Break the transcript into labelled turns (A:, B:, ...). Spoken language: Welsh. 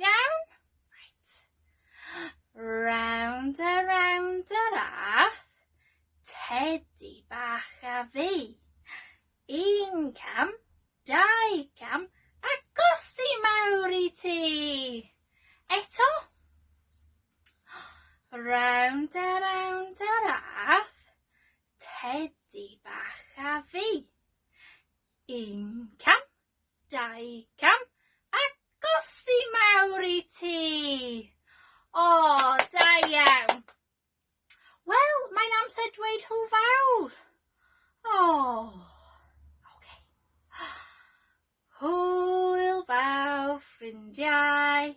A: Iawn? Right. Round a round a rath, tedi bach a fi. Un cam, dau cam, a gosi mawr i ti! Eto? Round a round a rath, tedi bach a fi. Un cam, dau cam, a gosi mawr i ti! O, da iawn! Wel, mae'n amser dweud hwyl fawr! O! Oce. Hwyl fawr, ffrindiau!